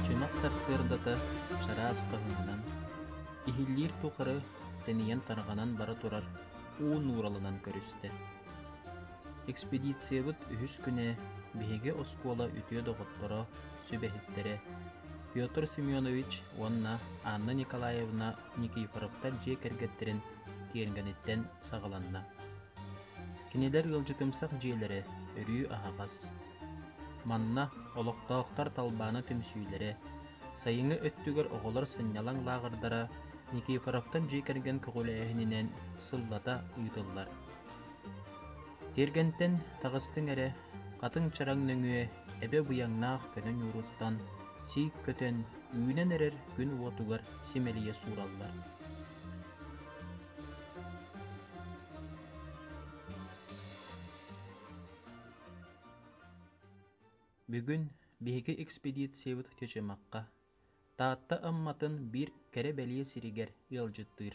Үчүмэх сарсыардата чараас хаһыҥынан, иһиллиир тухары тэнийэн тарҕанан бара турар уу нууралынан көрүстэ. Экспедициябыт үһүс күнэ биһиги оскуола үтүө доҕотторо сүбэһиттэрэ Петр Семенович уонна Анна Николаевна Никифоровтар дьиэ кэргэттэрин тиэргэниттэн саҕаланна. Кинилэр ыалдьытымсах дьиэлэрэ өрүү аһаҕас. Манна олохтоохтор талбаана түмсүүлэрэ, сайыҥҥы өттүгэр оҕолор сынньалаҥ лааҕырдара Никифоровтар дьиэ кэргэн көҕүлээһининэн сыллата ыытыллар. Тиэргэнтэн таҕыстыҥ эрэ, хатыҥ чараҥ нөҥүө эбэ быйаҥнаах көнө ньууруттан сий көтөн үүнэн эрэр күн уотугар симэлийэ суураллар Бүгүн биһиги экспедициябыт Чычымахха Таатта Амматын биир кэрэ бэлиэ сиригэр ыалдьыттыыр.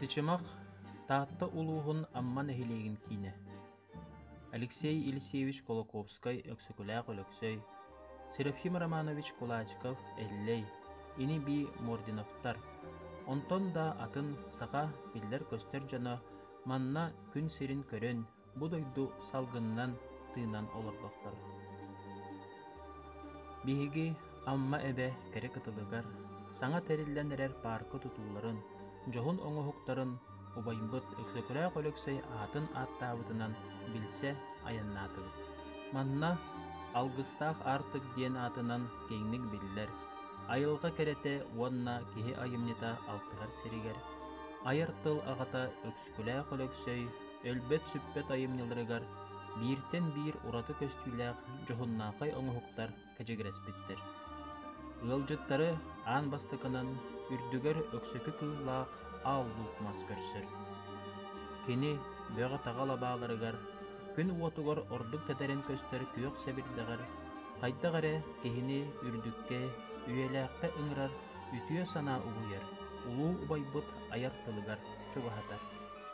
Тичимах Таатта улууһун Амма нэһилиэгин киинэ Алексей Елисеевич Кулаковскай Өксөкүлээх Өлөксөй Серафим Романович Кулачков Эллэй ини-бии Мординовтар онтон да атын саха биллэр-көстөр дьоно манна күн сирин көрөн бу дойду салгынынан тыынан олордохторо. Биһиги Амма эбэ кэрэ кытылыгар саҥа тэриллэн эрэр паарка тутууларын, дьоһун оҥоһуктарын убайбыт Өксөкүлээх Өлөксөй аатын ааттаабытынан билсэ айаннаатыбыт. Манна Алгыстаах Аартык диэн аатынан киэҥник биллэр айылҕа кэрэтэ уонна киһи айымньыта алтыһар сиригэр айар тыл аҕата Өксөкүлээх Өлөксөй өлбөт-сүппэт айымньыларыгар бииртэн биир ураты көстүүлээх дьоһуннаахай оҥоһуктар кэчигирэспиттэр. Ыалдьыттары аан бастакынан үрдүгэр өксөкү кыыллаах аал луук мас көрсөр. Кини бөҕө-таҕа лабааларыгар, күн уотугар ордук тэтэрин көстөр күөх сэбирдэҕэр хайдах эрэ киһини үрдүккэ, үйэлээххэ ыҥырар үтүө санаа угуйар, улуу убайбыт айар тылыгар чугаһатар.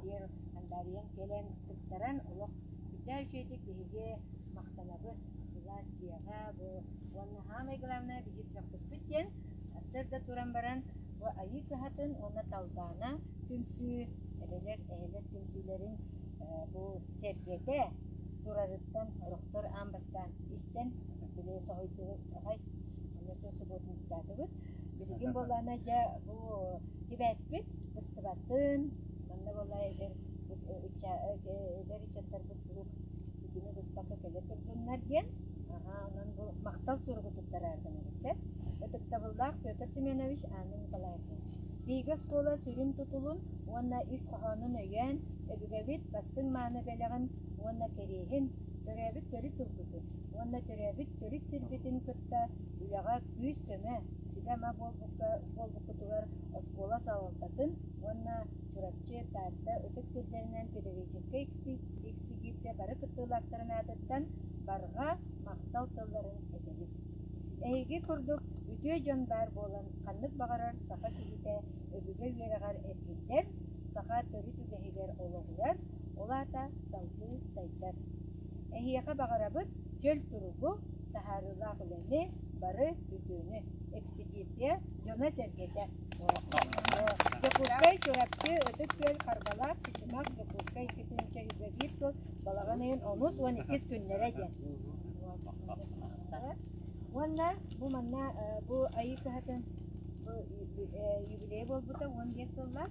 киэр хандаарыйан кэлэн кыттаран олох үрдээ үчүгэйдик биһиги махтанабыт сылаас дьиэҕэ бу уонна саамай главное биһиги көхпүппүт диэн сырда туран баран бу айыы кыһатын уонна талбаана түмсүү эбэлэр эһэлэр түмсүүлэрин бу сэргэтэ турарыттан орохтор аан бастаан истэн били соһуйдуҕай онно субуотунньуктаатыбыт билигин буоллаана дьэ бу сибээспит Сабатын, манна буолла эдэр ыччаттарбыт куруук итини быспакка кэлэ турдуннар диэн онон бу махтал суругу туттарааргынабыт сөп ытыктабыллаах Петр Семенович Анна Николаевна биһиги оскуола сүрүн тутулун уонна ис хоһоонун өйөөн өбүгэбит бастыҥ мааны бэлэҕин уонна кэриэһин төрөөбүт төрүт тылбытын уонна төрөөбүт төрүт сирбитин кытта үлэҕэ Күүс-көмө, сүбэ-ама буолбуккутугар оскуола салалтатын уонна Чурапчы, Таатта ытык сирдэринэн педагогическай экспедиция бары кыттыылаахтарын аатыттан барҕа махтал тылларын этэбит. Эһиги курдук үтүө дьон баар буолан, ханнык баҕарар саха киһитэ өбүгэ үөрэҕэр эргиллэр, саха төрүт үгэһигэр олоҕурар, Ол аата салгыы сайдар. Эһиэхэ баҕарабыт дьөл туругу, таһаарыылаах үлэни, бары бүтүүнү. Экспедиция дьоно-сэргэтэ. Дьокуускай Чурапчы Ытык Күөл Харбалаах Сычымах Дьокуускай Кытынча үлэлиир сыл балаҕан ыйын онус уон иккис күннэрэ диэн. Уонна бу манна бу айыы кыһатын бу юбилея буолбута уон биэс сыллаах.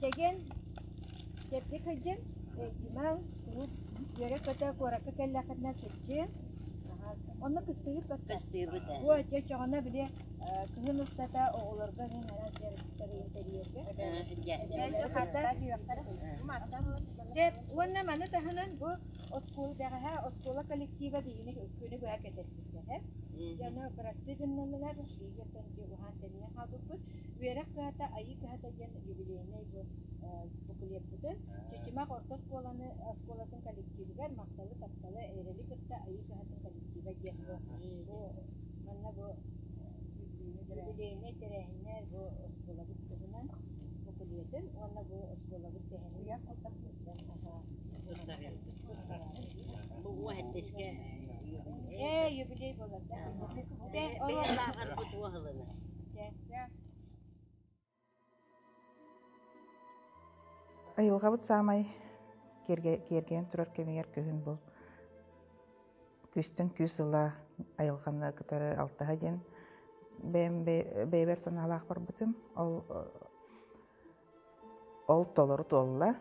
Дьэгэн, дьэрдэ кырдьан, Димаҥ куруук үөрэ-көтө куоракка кэллэххинэ кырдьыын, онно кыстыыбыт баттах. Кыстыыбыт ээ. Бу дьэ чоҕуна били кыһын устата оҕолорго иһин араас дьарыктарын тэрийэргэ. Дьэ уонна маны таһынан бу оскуола бэҕэһээ оскуола коллектива биһигини күнү быһа кэтэспиттэрэ. Дьэ ону бырастыы гыннылар, лигертан дьулуһаан тэнийэн хаалбыппыт. Үөрэх кыһата, айыы кыһата диэн юбилейнай букулеппыты Чычымах орто оскуоланы оскуолатын коллективыгар махталы тапталы эрэли кытта айыы кыһатын коллектива диэн бу бу манна бу юбилейнай тэрээһинэ бу оскуолабыт туһунан букулетын уонна бу оскуолабыт сэһэнин Бу әттеске Э, юбилей болады. Бу тууһылына. Айылҕабыт саамай киэргэнэн турар кэмигэр күһүн бу күүстэн күүс ыла айылҕаны кытары алтыһа диэн бэйэм бэйэбэр санаалаах барбытым ол ол толору туолла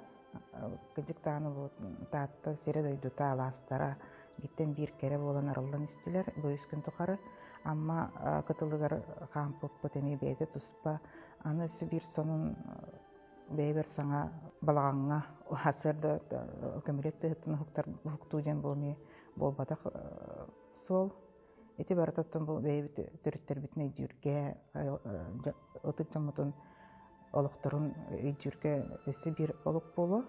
кыдьыктаан улуут Таатта сирэ-дойдута алаастара бииртэн биир кэрэ буолан арыллан истилэр бу үс күн тухары Амма кытылыгар хаампыппыт эмиэ бэйэтэ туспа аны өссө биир сонун бэйэбэр саҥа балаҕаҥҥа сарда көмүлүөт тыһыттан уһуктуу диэн бу эмиэ буолбатах суол Ити барытыттан бу бэйэбит төрүттэрбитин өйдүүргэ, ытык дьоммутун олохторун өйдүүргэ өссө биир олук буолуо.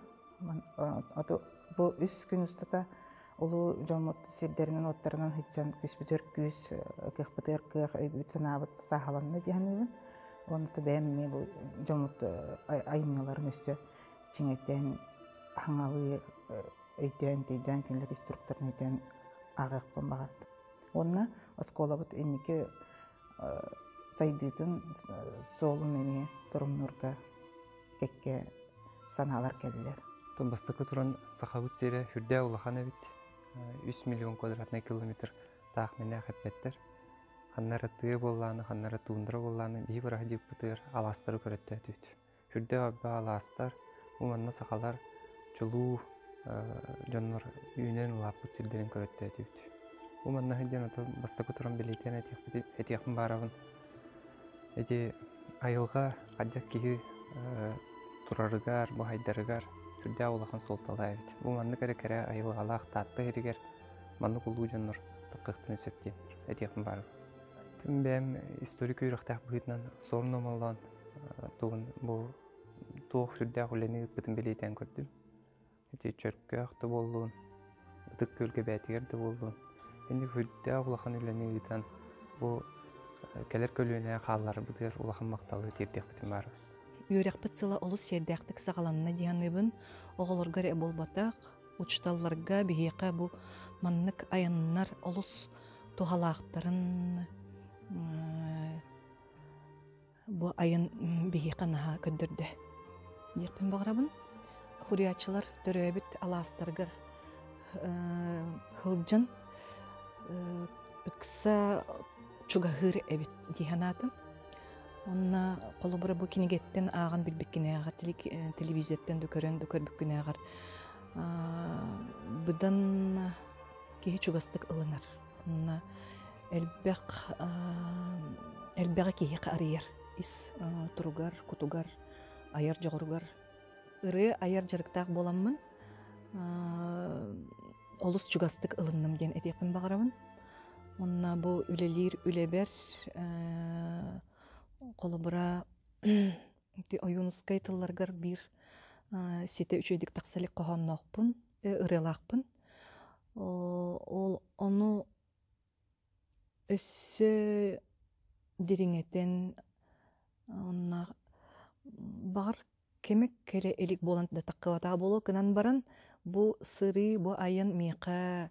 Бу үс күн устата улуу дьоммут сирдэринэн-уоттарынан сыдьан күспүтүөр күүс, кыахпытыгар кыах, өйбүт-санаабыт сааһаланна дии саныыбын. Уонна бэйэм эмиэ бу дьоммут айымньыларын өссө чиҥэйтэн, хаҥалыы өйдөөн-төйдөөн кинилэр инструкторын өйдөөн ааҕыахпын баҕардым. Уонна оскуолабыт инники сайдыытын суолун эмиэ торумнуурга кэккэ санаалар кэллилэр. Оттон бастакы туран Сахабыт сирэ үрдээх улахан эбит. Үс миллион квадратный километр таах мэнээх эппэттэр. Ханна ары тыа буоллааны, ханна ары туундара буоллааны, биһи быраһа диэкпитигэр алаастары көрөттөөтүт. Үрдэх арба алаастар уонна сахалар чулуу дьоннор үүнэн улааппыт сирдэрин көрөттөөтүбүт. Бу маннаһы диэн ото бастакы туран билийтиэн этиэхпитин этиэхпин баарабын. Ити айылҕа хадьак киһи турарыгар, бу хайдарыгар сүрдээх улахан суолталаах эбит. Бу маннык эрэ кэрэ айылҕалаах Таатта иһигэр маннык улуу дьоннор таккыахтарын сөп диэн этиэхпин баарабын. Тим бэйэм историк үөрөхтээх быһыытынан Сорн Омоллоон тугун бу туох сүрдээх үлэни ыыппытын билиитэн көрдүм. Ити чөркөөх да буоллун, ытык күөлгэбээтигэр да буоллун, инник үрдээх улахан үлэни ыытан бу кэлэр көлүөнэ хаалларбытыгар улахан махталы тиэрдиэхпитин баарбын. Үөрэхпит сыла олус сиэрдээхтик саҕаланна дии саныыбын. Оҕолорго эрэ буолбатах, учууталларга биһиэхэ бу маннык айаннар олус туһалаахтарын бу айан биһиэхэ наһаа көрдөрдө диэхпин баҕарабын хуриаччылар төрөөбүт алаастарыгар хылдьан ыкса чугаһыыр эбит дии санаатым онно холобура бу кинигэттэн ааҕан билбиккинээҕэр телевизортан да көрөн да көрбүккүнээҕэр быдан киһи чугастык ылынар элбэх элбэҕи киһи арыйар ис туругар кутугар айар дьоҕуругар ырыа айар дьарыктаах буоламмын олус чугастык ылынным диэн этиэхпин баҕарабын онно бу үлэлиир үлэбэр холобура Ити ойуунускай тылларгар биир ситэ үчүгэйдик тахса илик хоһоонноохпун, ырыалаахпын. Ол ону өссө дириҥэтэн онно баҕар кэмэ кэлэ илик буолан да таххыбатаҕа буолуо гынан баран бу сырыы бу айан миэхэ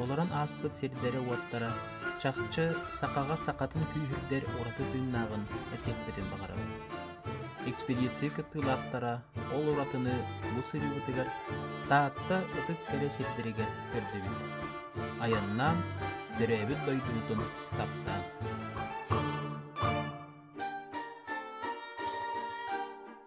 Олорон ааспыт сирдэрэ-уоттара, чахчы, сахаҕа сахатын күүһүрдэр ураты тыыннааҕын этиэхпитин баҕарабыт. Экспедиция кыттыылаахтара ол уратыны бу сырыыбытыгар Таатта ытык кэрэ сирдэригэр көрдөбүт. Айаннаан, төрөөбүт дойдубутун таптаан.